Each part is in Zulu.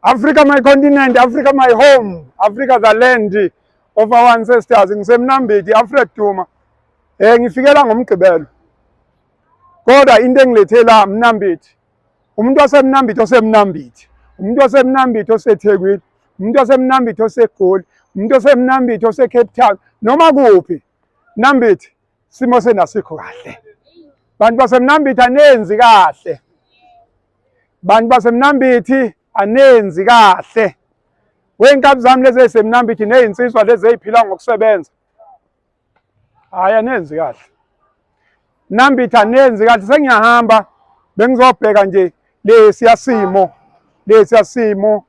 Africa my continent, Africa my home, Africa the land of our ancestors. Ngisemnambithi, Alfred Duma. Eh ngifikela ngomgqibelo. Kodwa into engilethe la Mnambithi. Umuntu waseMnambithi oseMnambithi. Umuntu waseMnambithi oseThekwini. Umuntu waseMnambithi oseGoli. Umuntu waseMnambithi oseCape Town. Noma kuphi. Mnambithi simo senasikho kahle. Bantu baseMnambithi anenzi kahle. bantu basemnambithi anenzi kahle wey'nkabi zami lezi ey'semnambithi ney'nsizwa lezi ey'phila ngokusebenza hhayi anenzi kahle nambithi anenzi kahle sengiyahamba bengizobheka nje lesiya simo lesiya simo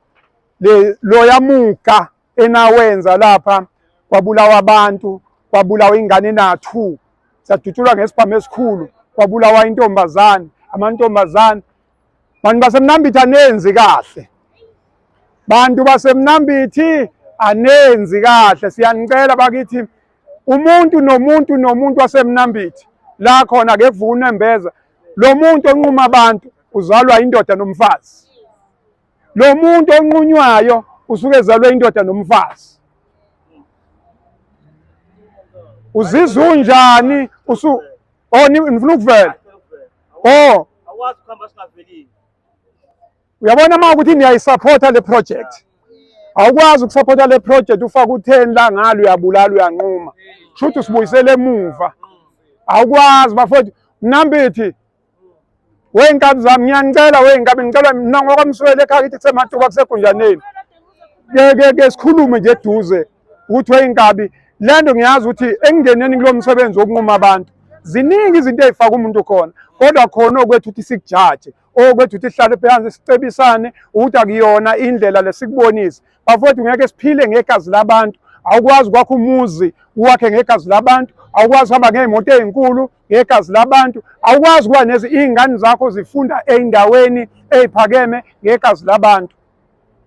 loya muga enawenza lapha kwabulawa abantu kwabulawa ingane na-two sadutshulwa ngesibhamu esikhulu kwabulawa intombazane amantombazane bantu basemnambithi anenzi kahle bantu basemnambithi anenzi kahle siyanicela bakithi umuntu nomuntu nomuntu wasemnambithi la khona kevuna embeza lo muntu onquma abantu uzalwa indoda nomfazi lo muntu onqunywayo usuke ezalwe indoda nomfazi uzizwa unjani usu oh nifuna ukuvela oh awazi ukuhamba singavelile uyabona uma ukuthi niyayisapota le project awukwazi ukusapota le project ufake utheni la ngalo uyabulala uyanquma shuthi usibuyisele emuva awukwazi bafowethu nambithi Wey'nkabi zami ngiyanicela wey'nkabi ngicela mina ngokwamswele ekhaya kithi kusematuba kusegunjaneni. Ke ke ke sikhulume nje eduze ukuthi wey'nkabi le nto ngiyazi ukuthi ekungeneni kulo msebenzi wokunquma abantu ziningi izinto ey'faka umuntu khona kodwa khona okwethu ukuthi sikujaje okwethu ukuthi sihlale phansi sicebisane ukuthi akuyona indlela lesikubonise bafowethu ngeke siphile ngegazi labantu awukwazi kwakho umuzi uwakhe ngegazi labantu awukwazi uhamba ngey'moto ey'nkulu ngegazi labantu awukwazi ukuba nezi iy'ngane zakho zifunda ey'ndaweni ey'phakeme ngegazi labantu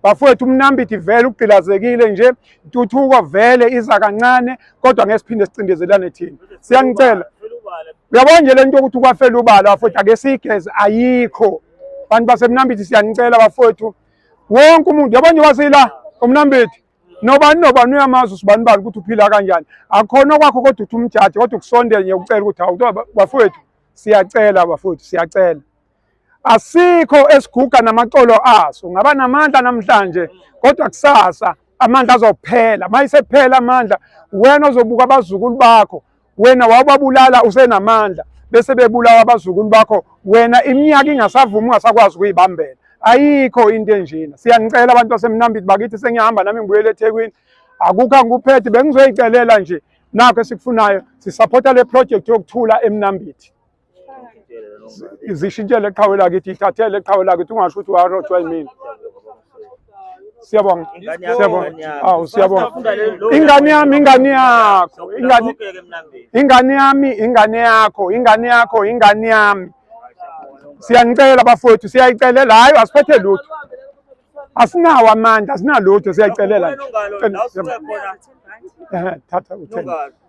bafowethu umnambiti vele ugqilazekile nje intuthuko vele iza kancane kodwa ngeke siphinde sicindezelane thina siyanicela uyabona nje le nto yokuthi ukwafela ubala bafowethu ake siyigeze ayikho bantu basemnambiti siyanicela bafowethu wonke umuntu yabona njengoba siyila umnambethi nobani nobani uyamazi usibani bani ukuthi uphila kanjani akhona okwakho kodwa uthi umjaji kodwa ukusondela nje ucela ukuthi hawu bafowethu siyacela bafowethu siyacela asikho esiguga namacolo aso ngaba namandla namhlanje kodwa kusasa amandla azophela mayisephela amandla wena ozobuka abazukulu bakho wena wawubabulala usenamandla bese bebulawa abazukulu bakho wena iminyaka ingasavumi ungasakwazi ukuyibambela ayikho into enjena siyanicela abantu basemnambiti bakithi sengiyahamba nami ngibuyele ethekwini akukho angikuphethe bengizoyicelela nje nakho esikufunayo sisaphotha le project yokuthula emnambiti izishintshele eqhawe lakithi ithathele eqhawe lakithi ungasho ukuthi warojwa yimina siyabonga siyabonga awu siyabonga ingane yami ingane yakho ingane ingane yami ingane yakho ingane yakho ingane yami siyanicela bafowethu siyayicelela hayi asiphethe lutho asinawo amandla asinalutho siyayicelela nje thatha utheni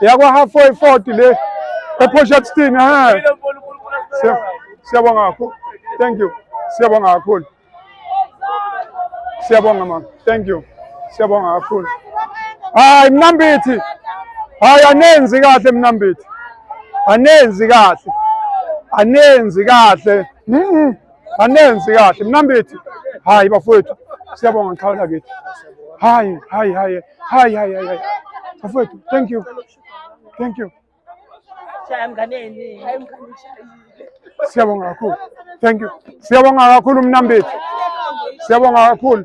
yakwa halfway 40 le ePortshepstone ha siyabonga kakhulu thank you siyabonga kakhulu siyabonga mama thank you siyabonga kakhulu hayi mnambithi hayi anenzi kahle mnambithi anenzi kahle anenzi kahle mm Anenzi kahle mnambithi. Hayi bafowethu. Siyabonga ngiqhawe lakithi. Hayi, hayi, hayi. Hayi, hayi, hayi. Bafowethu, thank you. Thank you. Shaya mnganeni. Hayi mnganeni. Siyabonga kakhulu. Thank you. Siyabonga kakhulu mnambithi. Siyabonga kakhulu.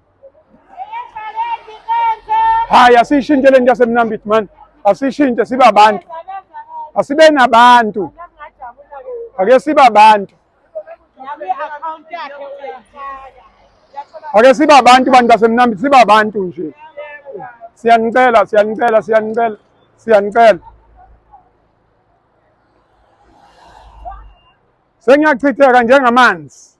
Hayi, asiyishintshe le nto yasemnambit mani, asiyishintshe sibe abantu, asibe nabantu, ake sibe abantu, ake sibe abantu bantu basemnambit, sibe abantu nje. Siyanicela, siyanicela, siyanicela, siyanicela. Sengiyachitheka njengamanzi.